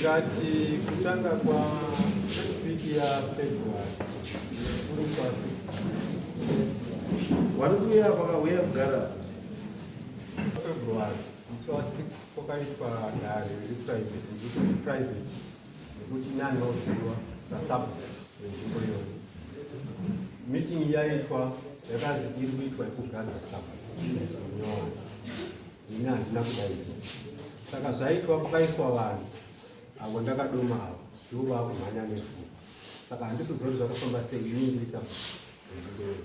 ngati kutanga kwa wiki ya February kuri kwa 6 wari kuya vakauya kugara February musi wa 6 kwakaitwa dare riri private riri private nekuti nyani vakuziviwa sasub renzvimbo iyoyo meeting yaitwa yakazi iri kuitwa yekugadza sub nyoro ini handina kudaidzwa saka zvaitwa pakaiswa vanhu avo ndakadoma avo ndivo vakumhanya nefu saka handisi zori zvakafamba sei ini ndiri sub renzvimbo iyoyo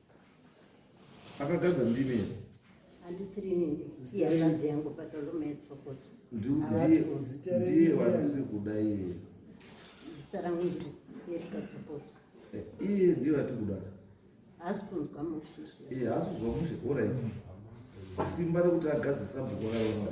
akagadza ndimi here ndiye wandiri kuda iye eh, iye ndiye wati kuda haasi kunzwa mushe iye haasi kunzwa mushe orit simba rekuti agadzisa bhuku raona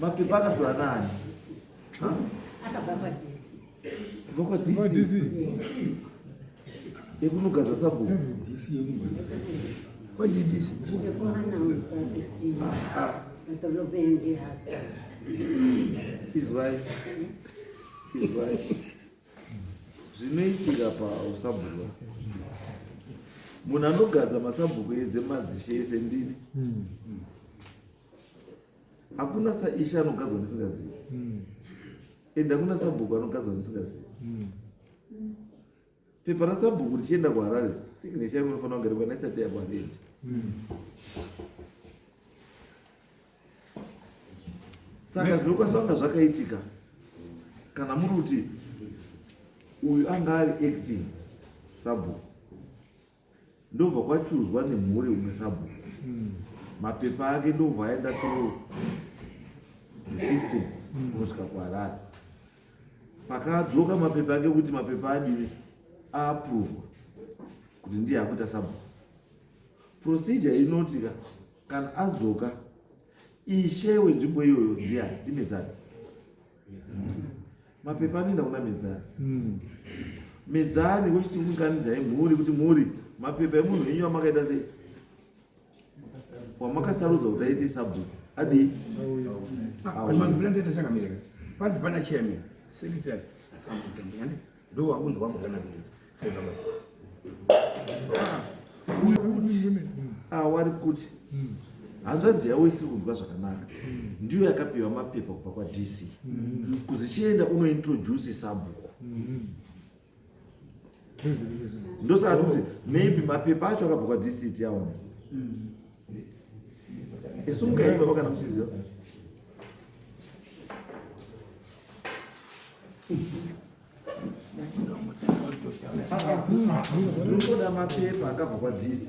mapepa akapiwa nani vokwa dc yekunogadza sabhuku izwai izwai zvinoitika pausabhuku munhu anogadza masabhuku edze madzishe ese ndini hmm. hakuna saishe anogadzwa ndisingazivi hmm. and hakuna sabhuku anogadzwa ndisingazivi hmm. pepa rasabhuku richienda kuharare signesha inofanira kunge rikwana isati yakwarendi saka zvinokwanisanga zvakaitika kana muri kuti uyu anga ari acting sabhuku ndobva kwachuzwa nemhuri umwe sabhuku hmm. mapepa ake ndobva aenda to system hmm. kunosvika kuharare pakadzoka mapepa ake kuti mapepa adini aapruvwa kuti ndiye akuita sabhuku procedure inotika kana adzoka ishe wenzvimbo iyoyo ndiya ndimedzani mapepa anoenda kuna medzani hmm. medzani wochiti unganidzai eh, mhuri kuti mhuri mapepa emunhu wenyu wamakaita sei wamakasarudza kuti aite sabhuku adii ah, panzi pana chairman secretary asambudza ndikandii Ndo wakunzi wangu kana kuti sai baba. Awari ah, kuti hmm. hanzvadzi yavo isiri kunzwa zvakanaka hmm. ndiyo yakapiwa mapepa kubva kwadc hmm. kuzichienda unointroduce sabhuku ndosaka tokuti maybe mapepa acho akabva kwadc tiaona isu mukaitava kana muchiziva Ndoda mapepa akabva kwa DC.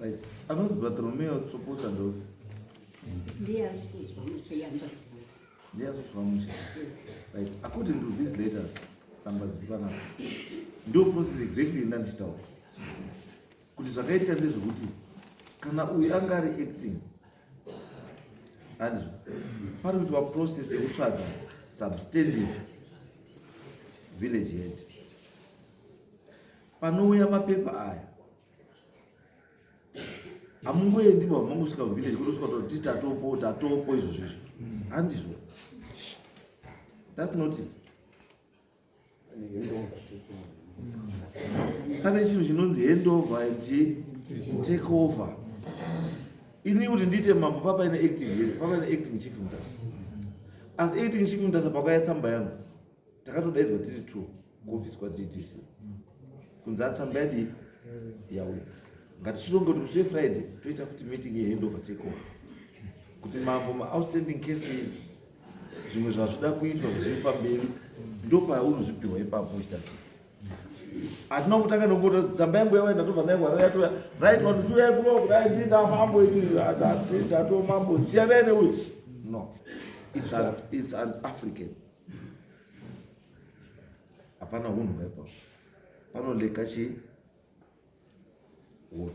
Right. Anonzi Bartolomeo Tsoposa ndo. Ndiye ari kuzwa mushe yambadzi. Ndiye ari kuzwa mushe. Right. According to these letters, tsamba dziri panapa. Ndo process exactly ndandichitaura. Kuti zvakaitika ndezvekuti kana uyu anga ari acting hanzi pari kuitwa process yekutsvaga substantive village head panouya mapepa aya hamungoendi bva mangosvika kuvillage kutosvika toti tatopo tatopo izvo zvizvo handizvo thats not it pane chinhu chinonzi hand over and take over ini kuti ndiite mambo papaine acting here papaine acting chief mutasa as acting chief mutasa pakauya tsamba yangu takatodaidzwa tiri two kuofisi kwadc kunzi atsamba yadii yauya ngatichironge kuti musi wefriday toita futi meeting yehandover take over kuti mambo maoutstanding cases zvimwe zvazvida kuitwa zviri pamberi ndopaunozvipihwa ipapo uchita sei hatina kutanga nokuona tsamba yangu yavaenda tobva nayo hwara yatoya right vanhu zviuya kuno kudai ndi ndamambo ndatiwo mambo zichanai neuyo no it's an, it's an african hapana hunhu hwepa panoleka chii hunhu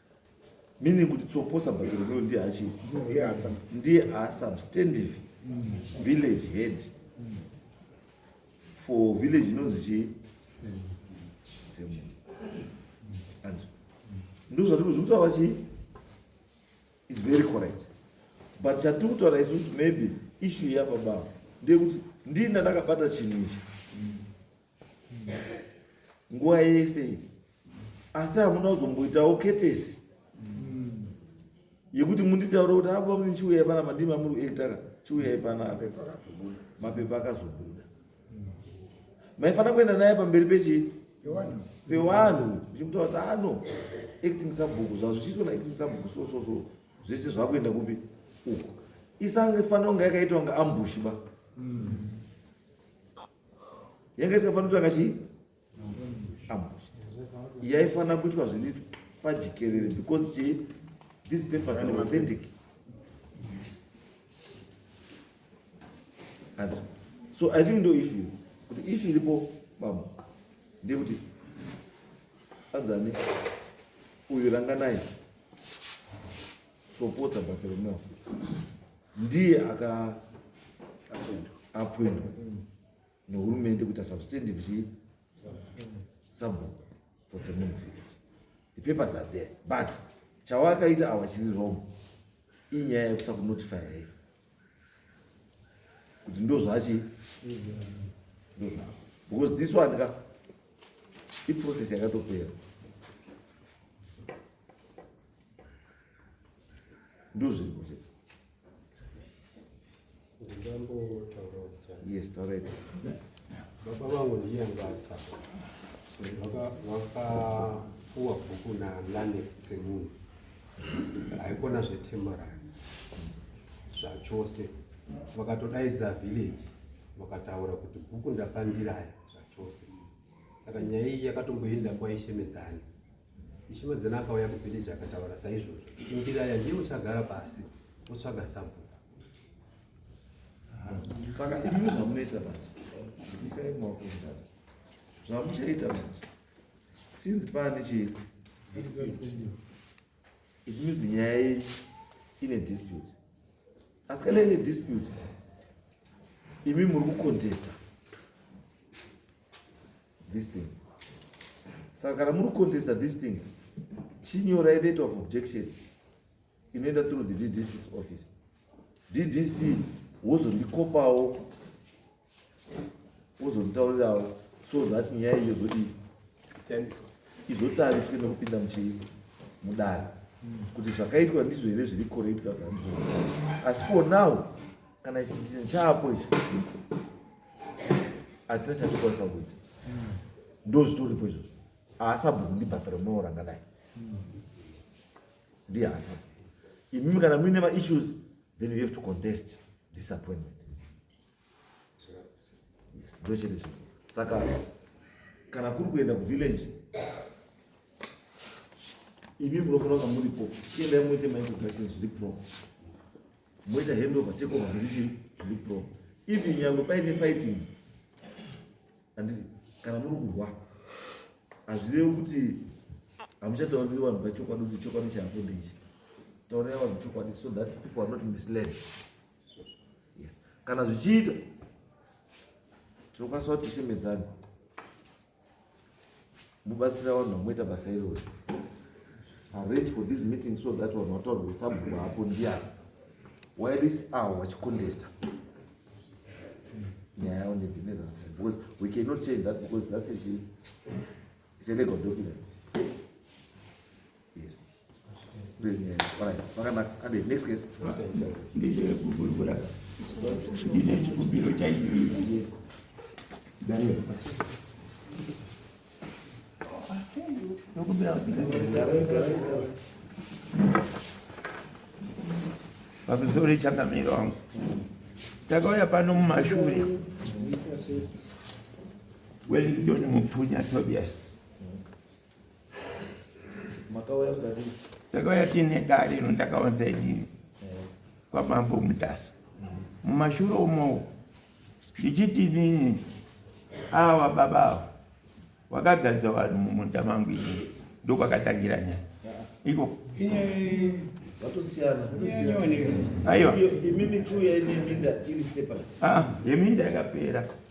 meaning kuti tsoposa but rudo ndiye achi ndiye asubstantive village head for village inonzi chii ndizvo zvatiri kuzvitaura chii is very correct but chatiri kutaura isusu maybe issue yababa ndeyekuti ndini ndandakabata chinhu ichi nguva yese iyi asi hamuna kuzomboitawo ketesi yekuti munditaure kuti apa mune chiuyai pana mandii mamuri kuektaka chiuyai panapa mapepa akazobuda maifanira kuenda naye pamberi pechii pevanhu zvichimutaura kuti ano acting sabhuku zvazvichiitwa naacting sabhuku so so so zvese zvakuenda kupi uko isange fanira kunge yakaitwa nga ambushi ba mm. yanga isikafanira kutanga chii ambush yaifanira kuitwa zviri pajikerere because chii these papers are authentic and so i think ndo issue kuti issue iripo baba ndekuti anzani uyu ranganai Tsopotsa Bartolomeo ndiye aka appointwa nehurumende kuita substantive chii sabhuku for tsemunu village the papers are there but chawakaita awa chiri wrong inyaya yekusa kunotify yai kuti ndozvachi ndozva because this one ka iprocess yakatopera ndozviriko chete yes alright baba vangu ndiye ngasa vakapuwa bhuku nalane semunhu haikona zvetemorary zvachose vakatodaidza village vakataura kuti bhuku ndapandiraya zvachose saka nyaya iyi yakatomboenda kwaishemedzani Ishiwadzana akauya kuvhileji akataura saizvozvo. Indiraya ndiye uchagara pasi wotsvaga sabhuku. Saka imimi zvamunoita manje isai maoko mundani zvamuchaita manje since pane chii it means nyaya yenyu ine dispute asi kana ine dispute imi muri kucontesta this thing saka kana muri kucontesta this thing chinyorai letter of objection inoenda through the ddc's office ddc wozondikopawo wozonditaurirawo so that nyaya iyo zodii izotariswe nekupinda muchii mudare kuti zvakaitwa ndizvo here zviri correct kana ndizvo asi for now kana ichi chinhu chaapo ichi hatina chatikwanisa kuita ndo zvitoripo izvozvo haasabhuku ndibhatara unoora ngadai ndiye haasabhu imimi kana muine maissues then you have to contest disappointment ndochete zvi saka kana kuri kuenda kuvillage imi munofanira kunge muripo chiendai muite maintroductions zviri proper moita handover take over zviri chii zviri pro even nyangwe paine fighting handiti kana muri kurwa hazvirevi kuti hamuchatauriri vanhu vachokwadi kuti chokwadi chaapo ndeichi taurira vanhu chokwadi so that people are not misled yes kana zvichiita tinokwanisa kuti shemedzani mubatsira vanhu vamoita basa irori arrange for this meeting so that vanhu vataura kuti sabhuku hapo ndiyani why this hour vachicontesta nyaya yavo nedhineransa because we cannot change that because that's a, it's a legal document Yes. ndechekuvhurivhura ndine chikumbiro chaicho pamusoro echangamiro wangu takauya pano mumashure wellington mupfunya tobias Makauya mudare. Ndakauya tine dare ino ndakawanza inini kwamambo mutasa mumashure umowo ndichiti inini awa baba awa wakagadza vanhu mumunda mangu ini ndokwakatangira nyaya iko aiwa yeminda yakapera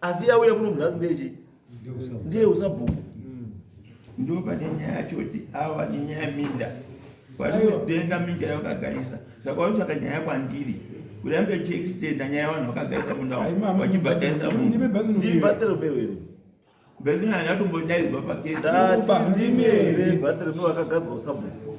asi yauya kuno munhasi ndechi ndiye usabhuku ndo pane nyaya yacho kuti awa nenyaya minda wanotenga minda yawakagarisa saka waisaka nyaya kwandiri kurambe chiextenda nyaya vanhu vakagarisa munda wachibhadharisa munhubatero bewere bezina yatombodaidzwa pakesndimi here batero pewakagadzwa usabhuku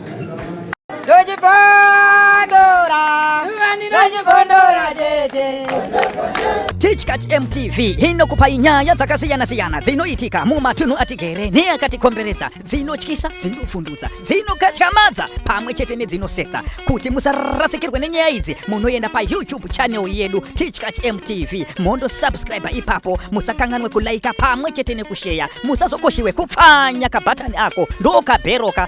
Tichkach MTV inokupa nyaya dzakasiyana-siyana dzinoitika mumatunhu atigere neakatikomberedza dzinotyisa dzinovhundutsa dzinokatyamadza pamwe chete nedzinosetsa kuti musarasikirwe nenyaya idzi munoenda payoutube channel yedu Tichkach MTV mondo subscribe ipapo musakanganwe kulaika pamwe chete nekusheya musazokoshiwe kupfanya kabhatani ako ndokabheroka